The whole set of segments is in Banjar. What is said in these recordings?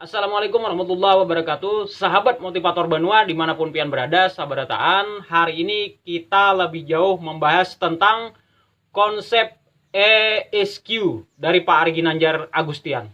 Assalamualaikum warahmatullahi wabarakatuh Sahabat motivator banua dimanapun pian berada sabarataan Hari ini kita lebih jauh membahas tentang konsep ESQ dari Pak Ari Ginanjar Agustian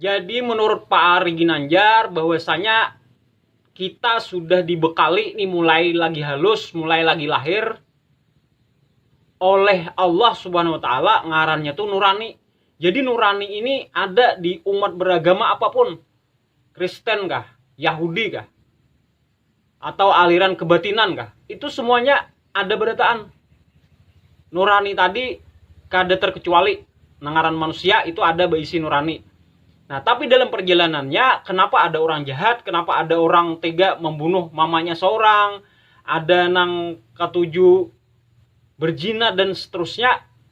Jadi menurut Pak Ari Ginanjar bahwasanya kita sudah dibekali nih mulai lagi halus, mulai lagi lahir oleh Allah Subhanahu wa taala ngarannya tuh nurani. Jadi nurani ini ada di umat beragama apapun. Kristen kah, Yahudi kah, atau aliran kebatinan kah itu semuanya ada berataan nurani tadi kada terkecuali nangaran manusia itu ada berisi nurani nah tapi dalam perjalanannya kenapa ada orang jahat kenapa ada orang tega membunuh mamanya seorang ada nang ketujuh berzina dan seterusnya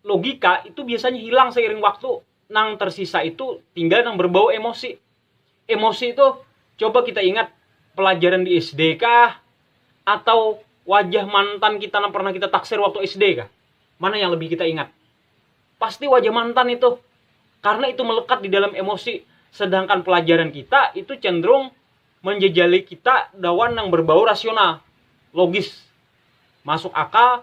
logika itu biasanya hilang seiring waktu. Nang tersisa itu tinggal nang berbau emosi. Emosi itu coba kita ingat pelajaran di SD kah atau wajah mantan kita nang pernah kita taksir waktu SD kah? Mana yang lebih kita ingat? Pasti wajah mantan itu. Karena itu melekat di dalam emosi. Sedangkan pelajaran kita itu cenderung menjejali kita dawan yang berbau rasional, logis, masuk akal,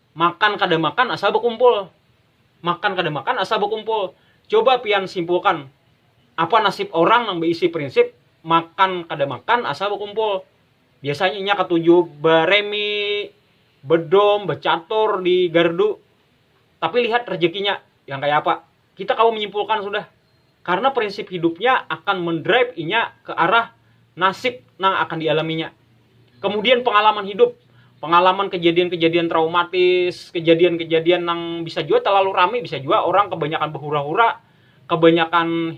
Makan kada makan asal bakumpul. Makan kada makan asal bakumpul. Coba pian simpulkan, apa nasib orang nang baisi prinsip makan kada makan asal bakumpul. Biasanya inya katuju baremi, bedom, bacatur di gardu. Tapi lihat rejekinya yang kaya apa. Kita kawa menyimpulkan sudah, karena prinsip hidupnya akan mendrive inya ke arah nasib nang akan dialaminya. Kemudian pengalaman hidup, pengalaman kejadian-kejadian traumatis, kejadian-kejadian nang bisa jua terlalu rami, bisa jua orang kebanyakan behura-hura, kebanyakan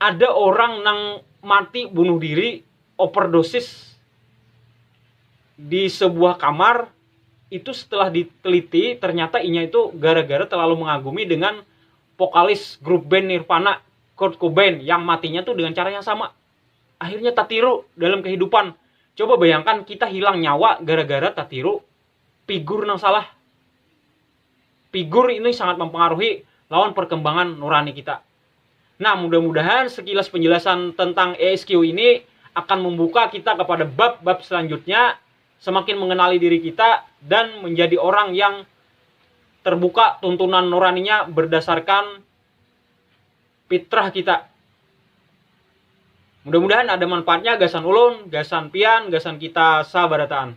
Ada orang nang mati bunuh diri overdosis di sebuah kamar itu setelah diteliti ternyata inya itu gara-gara terlalu mengagumi dengan vokalis grup band Nirvana Kurt Cobain yang matinya tuh dengan cara yang sama akhirnya tatiru dalam kehidupan coba bayangkan kita hilang nyawa gara-gara tatiru figur nang salah Figur ini sangat mempengaruhi lawan perkembangan nurani kita. Nah, mudah-mudahan sekilas penjelasan tentang ESQ ini akan membuka kita kepada bab-bab selanjutnya, semakin mengenali diri kita, dan menjadi orang yang terbuka tuntunan nuraninya berdasarkan fitrah kita. Mudah-mudahan ada manfaatnya gasan ulun, gasan pian, gasan kita sabarataan.